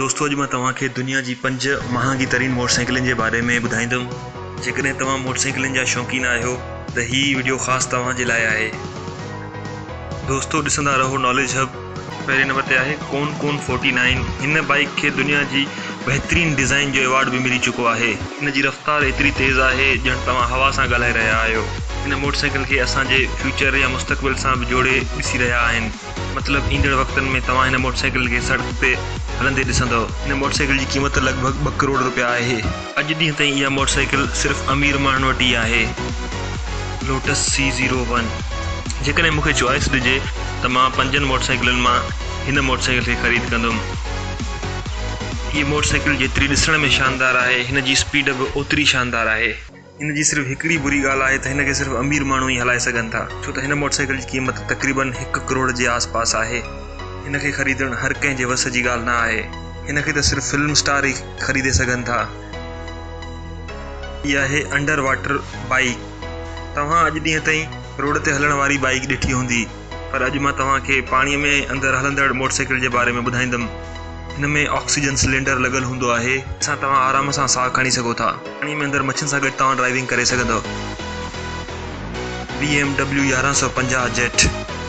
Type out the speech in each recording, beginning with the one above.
دوستو اڄ مان توهان کي دنيا جي پنج مهانگي ترين موٽر سائيڪلن جي باري ۾ ٻڌائيندم جيڪڏهن توهان موٽر سائيڪلن جا شوقين آهيو ته هي وڊيو خاص توهان جي لاء آهي دوستو ڏسندا رهو ناليج هب پهرين نمبر تي آهي ڪون ڪون فورٽي نائين، هن بائيڪ کي دنيا جي بهترين ڊيزائين جو ايوارڊ به ملي چڪو آهي. هن جي رفتار ايتري تيز آهي ڄڻ توهان هوا سان ڳالهائي رهيا آهيو. هن موٽر سائيڪل کي اسان جي فيوچر يا مستقبل سان به جوڙي ڏسي رهيا آهن، مطلب ايندڙ وقتن ۾ توهان هن موٽر سائيڪل کي سڙڪ تي هلندي ڏسندؤ. هن موٽر سائيڪل جي قيمت لڳ ڀڳ ٻه ڪروڙ روپيا آهي. اڄ ڏينهن تائين اها موٽر سائيڪل صرف امير ماڻهن وٽ ئي آهي لوٽس سي زيرو ون جيڪڏهن مون کي چوائس ڏجي ته مان پنجن موٽر سائيڪلن مان هن موٽر سائيڪل کي خريد ڪندم هيء موٽر سائيڪل جيتري ڏسڻ ۾ شاندار آهي هن جي اسپيڊ به اوتري شاندار آهي. هن جي صرف هڪڙي بري ڳالهه آهي ته هن کي صرف امير ماڻهو ئي هلائي سگهن ٿا ڇو ته هن موٽر سائيڪل جي قيمت تقريبن هڪ ڪروڙ جي آس پاس آهي هن کي خريدڻ هر ڪنهن جي وس جي ڳالهه نه آهي هن کي ته صرف فلم اسٽار ئي خريدي سگهن ٿا. هي آهي انڊر واٽر بائيڪ. توهان اڄ ڏينهن تائين روڊ تي هلڻ واري بائيڪ ڏٺي هوندي پر اڄ مان توهان کي پاڻي ۾ اندر هلندڙ موٽرسائيڪل جي باري ۾ ٻڌائيندم. هن ۾ آڪسيجن سلينڊر لڳل هوندو آهي. جنهن سان توهان آرام سان ساهه کڻي سگهو ٿا. پاڻي ۾ اندر مڇين سان گڏ توهان ڊرائيونگ ڪري سگهندؤ. بي ايم ڊبليو يارهن سؤ پنجاهه جيٽ،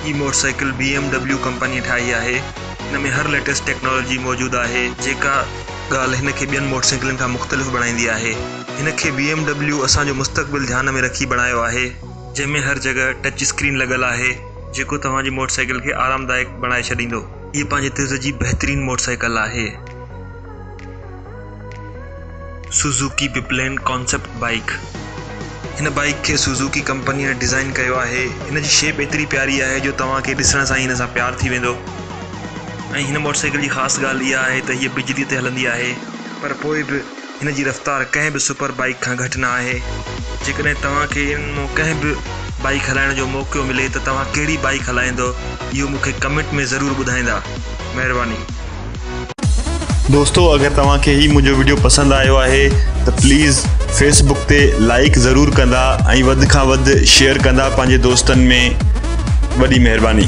هي موٽرسائيڪل بي ايم ڊبليو ڪمپنيء ٺاهي آهي. هن ۾ هر ليٽيسٽ ٽيڪنالاجي موجود آهي جيڪا ڳالهه هن کي ٻين موٽر سائيڪلن کان مختلف بڻائيندي آهي. هن کي بي ايم ڊبليو اسان جو مستقبل ڌيان ۾ رکي بڻايو آهي. جنهن ۾ هر جڳهه ٽچ اسڪرين لڳل آهي جيڪو توهان جي موٽر سائيڪل کي آرامدائڪ بڻائي ڇڏيندو. هيء پنهنجي طرز جي بهترين موٽر سائيڪل آهي. سوزوڪي بپلين ڪانسيپٽ بائيڪ، هن بائيڪ کي سوزوڪي ڪمپنيء ڊزائين ڪيو آهي. هن جي شيپ ايتري پياري آهي جو توهان کي ڏسڻ سان ئي هن سان پيار ٿي ويندو ۽ هن موٽر سائيڪل جي خاص ڳالهه اها آهي ته هيء بجلي تي هلندي آهي پر پوء به هن جي رفتار ڪنهن به سپر بائيڪ کان گهٽ نه آهي. جيڪڏهن توهان کي انهن مان ڪنهن به بائيڪ هلائڻ جو موقعو ملي ته توهان ڪهڙي بائيڪ هلائيندؤ اهو مون کي ڪمينٽ ۾ ضرور ٻڌائيندا. مهرباني. دوستو اگر توهان کي هي منهنجو وڊيو پسند آيو آهي ته پليز فيس بڪ تي لائيڪ ضرور ڪندا ۽ وڌ کان وڌ شيئر ڪندا پنهنجي دوستن ۾ وڏي مهرباني.